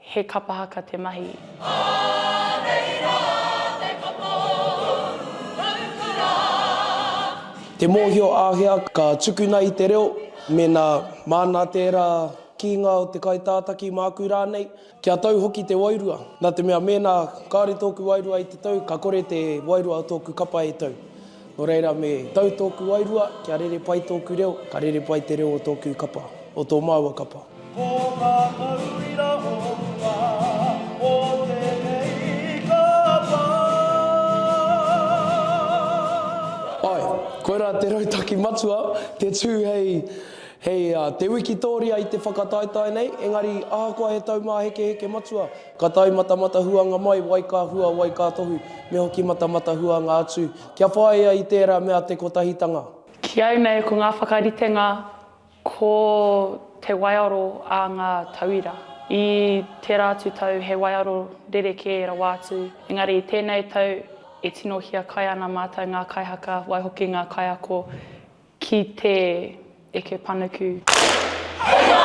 He kapa haka te mahi. Ā, nei rā te kapa ōu raukura. Te mōhio āhea ka tukuna i te reo, mēnā māna tērā kīnga o te kaitātaki māku rānei, kia tau hoki te wairua, nā te mea mēnā kāore tōku wairua i te tau, ka kore te wairua o tōku kapa e tau. Nō reira, me tau tōku wairua, kia rere pai tōku reo, ka rere pai te reo o tōku kapa, o tō māua kapa. Ko ngā tauira o mua o tēnei kapa. Ae, koirā te rautaki matua, te tū hei, hei te wikitōria i te whakataetae nei, engari ahakoa he taumāhekeheke matua, ka tae matamatahuanga mai wai ka hua, wai ka tohu, me hoki matamatahuanga atu, kia whāia i tērā mea te kotahitanga. Ki au nei ko ngā whakaritenga Ko te waiaro a ngā tauira. I tērā atu tau he waiaro rerekē rawa atu, engari i tēnei tau e tino hiakai ana mātou ngā kaihaka, waihoki ngā kaiako ki te eke panuku. Hei wā!